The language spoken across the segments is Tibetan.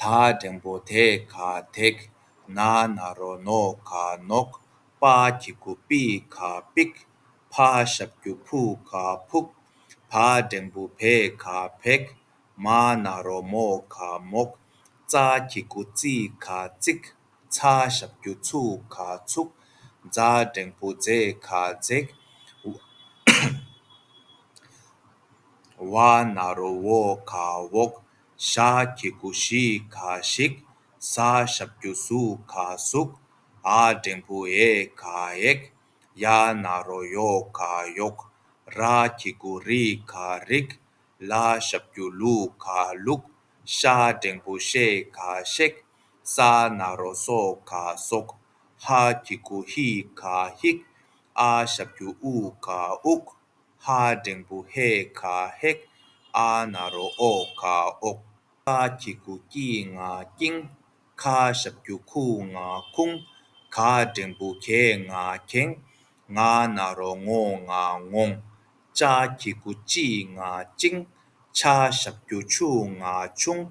ད་འགྲེང་བོ་དེ་ག་དེག་ན་ན་རོ་ནོ་ག་ནོག་པ་གྱི་གུ་པི་ག་པིག་ཕ་ཞབས་རྒྱུ་ཕུ་ག་ཕུག་ད་འགྲེང་བུ་བེ་ག་བེག་མ་ན་རོ་མོ་ག་མོག་ཙ་གྱི་གུ་ཙི་ག་ཙིག་ཚ་ཞབས་རྒྱུ་ཚུ་ག་ཚུག་ཛ་འགྲེང་བུ་ཛེ་ག་ཛེག་བ་ན་རོ་བོ་ག་བོག། ཤ་ཁྱི་ཀུ་ཤི་ཁ་ཤིག་ས་ཞབས་རྒྱུ་སུ་ཁ་ཟུག་ཨ་འབྲེང་བུ་ཨེ་ཁ་ཨེག་ཡ་ན་རོ་ཡོ་ཁ་ཡོག་ར་ཁྱི་ཀུ་རི་ཁ་རིག་ལ་ཞབས་རྒྱུ་ལུ་ཁ་ལུག་ཤ་འབྲེང་བུ་ཤེ་ཁ་ཤེག་ས་ན་རོ་སོ་ཁ་སོག་ཧ་ཁྱི་ཀུ་ཧི་ཁ་ཧིག་ཨ་ཞབས་རྒྱུ་ཨུ་ཁ་ཨུག། ཧ་འབྲིང་པོ་ཧེ་ཁ་ཧེག་ཨ་ན་རོ་ཨོ་ཁ་ཨོག་ཀ་ཁྱི་ཁུ་ཀྱི་ང་ཀྱིང་ཁ་ཞབས་ཁྱུ་ཁུ་ང་ཁུང་ག་འབྲིང་པོ་གེ་ང་གེང་ང་ན་རོ་ངོ་ང་ངོང་ཅ་ཁྱི་ཁུ་ཅི་ང་ཅིང་ཆ་ཞབས་ཁྱུ་ཆུ་ང་ཆུང་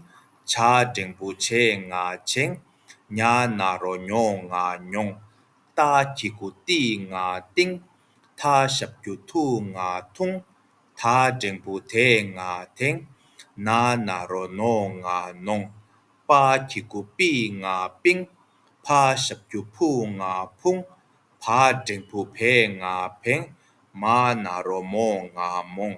བྱ་འབྲིང་པོ་བྱེ་ང་བྱེང་ཉ་ན་རོ་ཉོ་ང་ཉོང་རྟ་ཁྱི་ཁུ་ཏི་ང་ཏིང། ཐ་ཞབས་རྒྱུ་ཐུག་ང་ཐུང། ཐ་འགྲེང་བུ་དེ་ང་དེང། ན་ན་རོ་ནོ་ང་ནོང། པ་གི་གུ་པི་ང་པིང། ཕ་ཞབས་རྒྱུ་ཕུ་ང་ཕུང། བ་འགྲེང་བུ་བེ་ང་བེང། མ་ན་རོ་མོ་ང་མོང།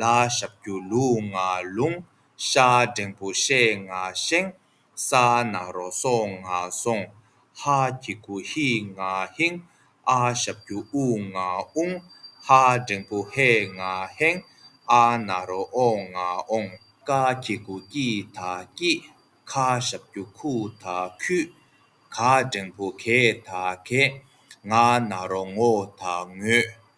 ལ་ཞབས་རྒྱུ་ལུས་ངག་ལུང། ཤ་འབྲེང་བུ་ཤའི་ངག་བཞེངས། ས་ནག་རོ་སོ་ངག་བཟུང། ཧ་གྱི་གུ་ཧི་ངག་ཧིང། ཨ་ཞབས་རྒྱུ་ཨུ་ངག་ཨུང། ཧ་འབྲེང་བུ་ཧའི་ངག་ཧེང། ཨ་ནག་རོ་ཨོ་ངག་ཨོང། ཀ་གྱི་གུ་ཀི་ད་ཀི། ཁ་ཞབས་རྒྱུ་ཁུ་ད་ཁུ། ག་འབྲེང་བུ་གེ་ད་གེ། ང་ནག་རོ་ངོ་ད་ངོ།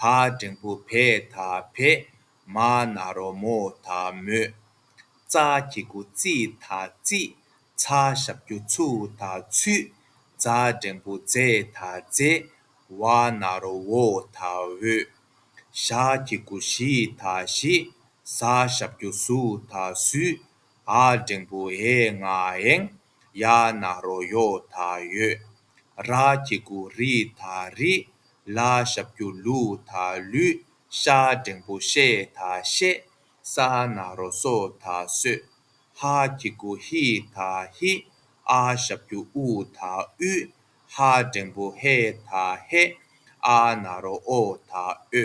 ཐ་འབྲིང་བུ་བས་ཐ་བས། མ་ན་རོ་མོ་ཐ་མོས། རྩ་གི་དགུ་རྩིས་ཐ་རྩིས། ཚ་ཞབས་རྒྱུ་ཚུགས་ཐ་ཚུས། རྫ་འབྲིང་བུ་རྫས་ཐ་རྫས། བ་ན་རོ་བོ་ཐ་བོས། ཞག་གི་དགུ་བཞི་ཐ་བཞིས། ཟ་ཞབས་རྒྱུ་ཟུག་ཐ་ཟུས། ཨ་འབྲིང་བུ་ཨེ་ང་ཨེང། ཡ་ན་རོ་ཡོ་ད་ཡོད། ར་སྐྱི་སྐུ་རི་ད་རི། ལ་ཞབས་སྐྱུ་ལུ་ད་ལུ། ཤ་སྒྲེང་པོ་ཤེ་ད་ཤེ། ས་ན་རོ་སོ་ད་སོ། ཧ་སྐྱི་སྐུ་ཧི་ད་ཧི། ཨ་ཞབས་སྐྱུ་ཨུ་ད་ཨུ། ཧ་སྒྲེང་པོ་ཧེ་ད་ཧེ། ཨ་ན་རོ་ཨོ་ད་ཨོ།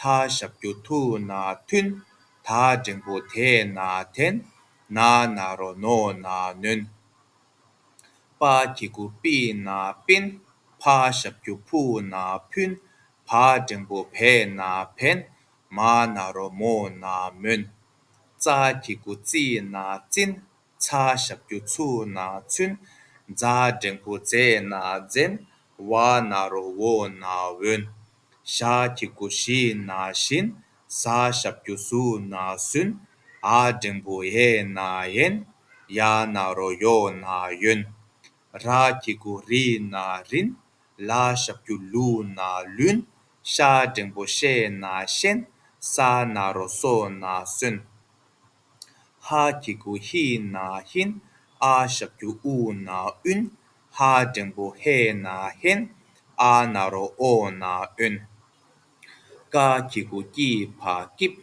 ཐ་ཞབས་རྒྱུ་ཐུ་ན་ཐུན། ད་འབྲིང་པོ་དེ་ན་དེན། ན་ན་རོ་ནོ་ན་ནོན། པ་གི་གུ་པི་ན་པིན། ཕ་ཞབས་རྒྱུ་ཕུ་ན་ཕུན། བ་འབྲིང་པོ་བེ་ན་བེན། མ་ན་རོ་མོ་ན་མོན། ཙ་གི་གུ་ཙི་ན་ཙིན། ཚ་ཞབས་ཀྱུ་ཚུ་ན་ཚུན། རྫ་འབྲེང་བུ་རྫས་ན་རྫན། བ་ན་རོ་བོ་ན་བོན། ཤ་ཁྱི་གུ་ཤི་ན་ཤིན། ཟ་ཞབས་ཀྱུ་ཟུ་ན་ཟུན། ཨ་འབྲེང་བུ་ཨེ་ན་ཨེན། ཡ་ན་རོ་ཡོ་ན་ཡོན། ར་ཁྱི་གུ་རི་ན་རིན། ལ་ཞབས་ཀྱུ་ལུ་ན་ལུན། ཤ་འབྲེང་བུ་ཤེ་ན་ཤེན། ས་ན་རོ་སོ་ན་སོན། ཧ་གི་གུ་ཧི་ན་ཧིན། ཨ་ཞབས་ཀྱུ་ཨུ་ན་ཨུན། ཧ་འབྲིང་པོ་ཧེ་ན་ཧེན། ཨ་ན་རོ་ཨོ་ན་ཨོན། ཀ་གི་གུ་ཀི་ཕ་ཀིབ།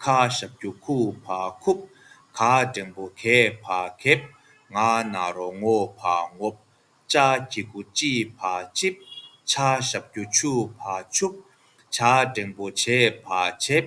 ཁ་ཞབས་ཀྱུ་ཁུ་ཕ་ཁུབ། ག་འབྲིང་པོ་གེ་ཕ་ཁེབ། ང་ན་རོ་ངོ་ཕ་ངོབ། ཅ་གི་གུ་ཅི་ཕ་ཅིབ། ཆ་ཞབས་ཀྱུ་ཆུ་ཕ་ཆུབ། ཆ་འབྲིང་པོ་བྱེ་ཕ་བྱེབ།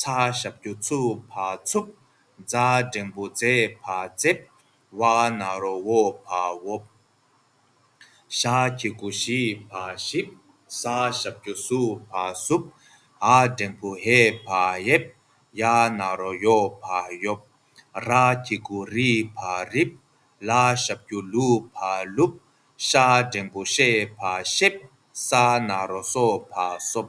ཚ་ཞབས་ཀྱུ་ཆུ་བ་འཚུབ། རྫ་འབྲེང་བུ་མཛེས་བ་མཛེས། བ་ན་རོ་བོ་བ་བོབ། ཤ་ཁྱི་གུ་ཞི་བ་ཞིབ། ས་ཞབས་ཀྱུ་སུ་བ་སུབ། ཧ་འབྲེང་བུ་ཧེ་བ་ཧེབ། ཡ་ན་རོ་ཡོ་བ་ཡོབ། ར་ཁྱི་གུ་རི་བ་རིབ། ལ་ཞབས་ཀྱུ་ལུ་བ་ལུབ། ཤ་འབྲེང་བུ་ཤེ་བ་ཤེབ། ས་ན་རོ་སོ་བ་སོབ།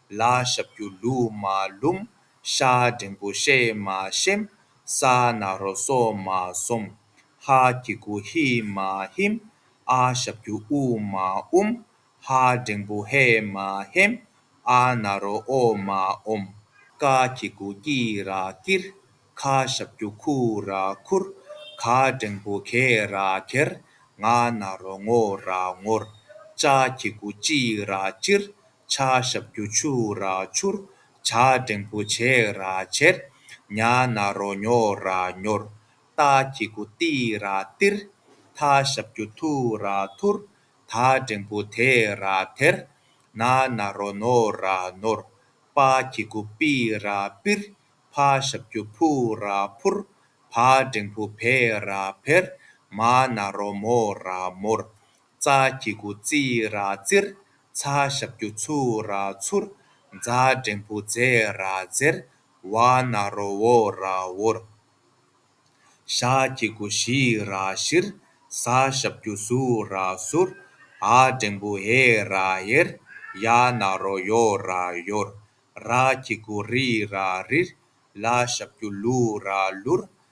ལ་ཞབས་ཀྱུ་ལུ་མ་ལུམ། ཤ་འབྲིང་པོ་གཤེད་མ་གཤེམ། ས་ན་རོ་སོ་མ་སོམ། ཧ་གི་གུ་ཧི་མ་ཧིམ། ཨ་ཞབས་ཀྱུ་ཨུ་མ་ཨུམ། ཧ་འབྲིང་པོ་ཧེ་མ་ཧེམ། ཨ་ན་རོ་ཨོ་མ་ཨོམ། ཀ་གི་གུ་ཀི་ར་ཀིར། ཁ་ཞབས་ཀྱུ་ཁུ་ར་ཁུར། ཁ་འབྲིང་པོ་ཁེ་ར་ཁེར། ང་ན་རོ་ངོ་ར་ངོར། ཅ་གི་གུ་ཅི་ར་ཅིར། ཕྱག་ཞབས་རྒྱུ་ཆུ་ར་ཆུར། བྱ་འབྲེང་བུ་བྱེ་ར་བྱེར། ཉྭ་ནག་རོ་ཉོ་ར་ཉོར། རྟ་ཁྱི་གུ་ཏི་ར་ཏིར། ཐ་ཞབས་རྒྱུ་ཐུ་ར་ཐུར། ད་འབྲེང་བུ་དེ་ར་དེར། ན་ནག་རོ་ནོ་ར་ནོར། པ་ཁྱི་གུ་པི་ར་པིར། ཕ་ཞབས་རྒྱུ་ཕུ་ར་ཕུར། བ་འབྲེང་བུ་བེ་ར་བེར། མ་ནག་རོ་མོ་ར་མོར། རྩ་གི་གུ་རྩི་ར་རྩིར། ཚ་ཞབས་རྒྱུ་ཚུ་ར་ཚུར། རྫ་འབྲེང་བུ་རྫས་ར་རྫེར། བ་ན་རོ་བོ་ར་བོར། ཤ་གི་གུ་ཞི་ར་ཞིར། ས་ཞབས་རྒྱུ་སུ་ར་སུར། ཧ་འབྲེང་བུ་ཧེ་ར་ཧེར། ཡ་ན་རོ་ཡོ་ར་ཡོར། ར་གི་གུ་རི་ར་རིར། ལ་ཞབས་རྒྱུ་ལུ་ར་ལུར།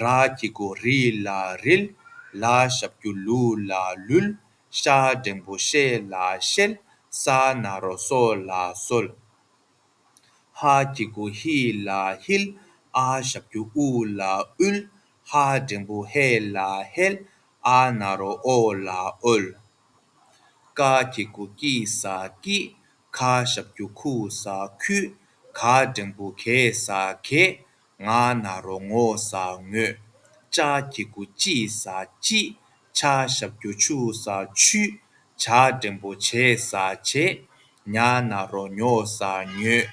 ར་སྐྱི་སྒོ་རི་ལ་རིལ། ལ་ཞབས་ཀྱུ་ལུ་ལ་ལུལ། ཤ་འབྲེང་པོ་ཤེ་ལ་ཤེལ། ས་ན་རོ་སོ་ལ་སོལ། ཧ་སྐྱི་སྒོ་ཧི་ལ་ཧིལ། ཨ་ཞབས་ཀྱུ་ཨུ་ལ་ཨུལ། ཧ་འབྲེང་པོ་ཧེ་ལ་ཧེལ། ཨ་ན་རོ་ཨོ་ལ་ཨོལ། ཀ་སྐྱི་སྒོ་ཀི་ས་ཀི། ཁ་ཞབས་ཀྱུ་ཁུ་ས་ཁུལ། ག་འབྲེང་པོ་གེ་ས་གེལ། ང་ན་རོ་ངོ་ཟ་ངོས། ལྕགས་ཀྱི་དགུ་ལྕི་ཟ་ལྕི། ཕྱ་ཞབས་རྒྱུ་ཆུ་ཟ་ཆུ། བྱ་འབྲིང་པོ་བྱེ་ཟ་བྱེ། ཉ་ན་རོ་ཉོ་ཟ་ཉོས།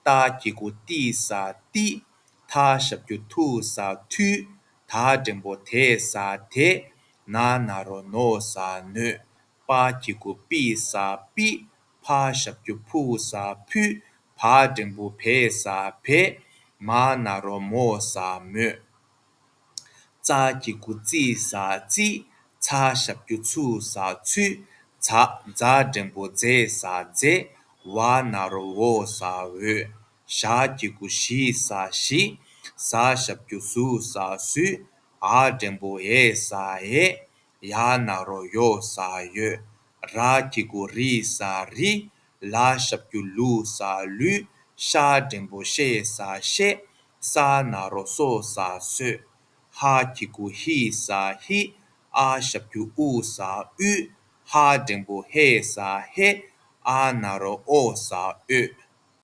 རྟ་ཀྱི་དགུ་ལྟི་ཟ་ལྟི། ཐ་ཞབས་རྒྱུ་ཐུ་ཟ་ཐུ། ད་འབྲིང་པོ་དེ་ཟ་དེ། ན་ན་རོ་ནོ་ཟ་ནོས། པ་ཀྱི་དགུ་པི་ཟ་པི། ཕ་ཞབས་ཀྱུ་ཕུ་བོ་ཟ་ཕུ། ཕ་འབྲིང་པོ་བེ་ཟ་བེ། མ་ན་རོ་མོ་ཟ་མོ། ཙ་ཀྱི་གུ་ཙི་ཟ་ཙི། ཚ་ཞབས་ཀྱུ་ཚུ་ཟ་ཚུ། ཛ་རྫ་འབྲིང་པོ་ཛེ་ཟ་ཛེ། བ་ན་རོ་བོ་ཟ་བོ། ཞ་ཀྱི་གུ་ཞི་ཟ་ཞི། ཟ་ཞབས་ཀྱུ་ཟུ་ཟ་སུ། ཨ་འབྲིང་པོ་ཨེ་ཟ་ཨེ། ཡ་ན་རོ་ཡོ་ས་ཡོ། ར་ཀི་གུ་རི་ས་རི། ལ་ཤབ་ཀྱུ་ལུ་ས་ལུ། ཤ་སྒྲེང་པོ་ཤེ་ས་ཤེ། ས་ན་རོ་སོ་ས་སོ། ཧ་ཀི་གུ་ཧི་ས་ཧི། ཨ་ཤབ་ཀྱུ་ཨུ་ས་ཨུ། ཧ་སྒྲེང་པོ་ཧེ་ས་ཧེ། ཨ་ན་རོ་ཨོ་ས་ཨོ།